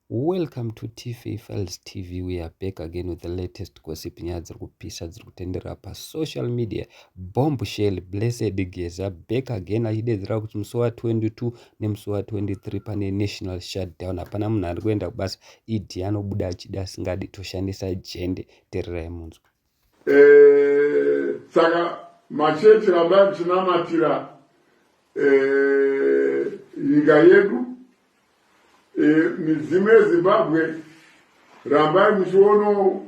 Welcome to Tifi Files TV. We are back again with the latest gossip nyaya dziri kupisa dziri kutenderera pasocial media. Bomb shell blessed geza back again achidedzera kuti musi wa 22 nemusi wa 23 pane national shutdown. Hapana munhu ari kuenda kubasa. ED anobuda achida asingadi toshandisa jende. Tererai munzwa. Eh, saka machechi rambai muchinamatira eh, nyika yedu eh, midzimu yezimbabwe rambai muchiono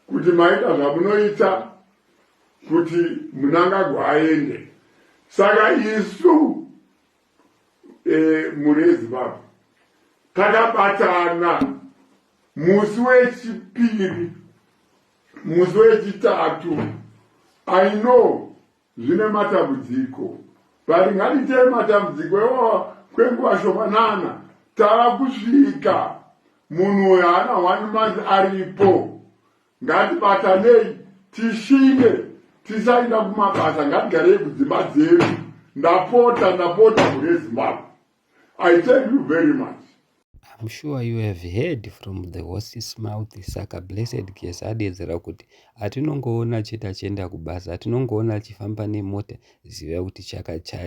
kuti maita zvamunoita kuti munangagwa aende saka isu mhuri yezimbabwe takabatana musi wechipiri Musi wechitatu I know zvine matambudziko but ngatiite matambudziko iwawa kwenguva shomanana tava kusvika munhu uyo haana one month aripo ngatibatanei tishinge tisainda kumabasa ngatigarei kudzimba dzedu ndapota ndapota mune zimbabwe I thank you very much. I'm sure you have heard from the horse's mouth saka blessed case adedzera kuti atinongoona chete achienda kubasa atinongoona achifamba nemota ziva kuti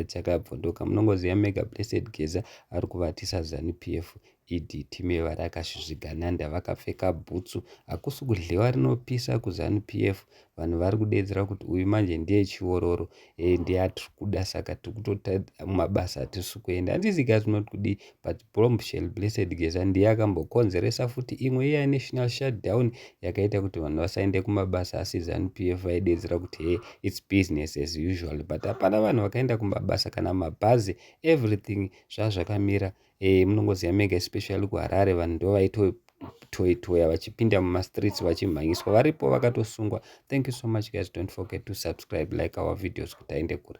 chakabvondoka munongoziva mega blessed geza ari kuvatisa zanu p f ed time varakashizvigananda vakapfeka bhutsu hakusi kudhliwa rinopisa kuzanu p f vanhu vari kudeedzera kuti uyu manje ndiye chiororo e ndiye atiri kuda saka tiri kutota mabasa atisi kuenda handisi guys not kudii but bombshell blessed geza ndiye akambokonzeresa futi imwe iya national shutdown yakaita kuti vanhu vasaende kumabasa asi zanu p f vaideedzera kuti he its business as usual but hapana vanhu vakaenda kumabasa kana mabhazi everything zvazvakamira eh, munongoziva mega especially kuharare vanhu ndo vaitotoitoya vachipinda mumastreets vachimhanyiswa varipo vakatosungwa thank you so much guys don't forget to subscribe like our videos kuti aende kure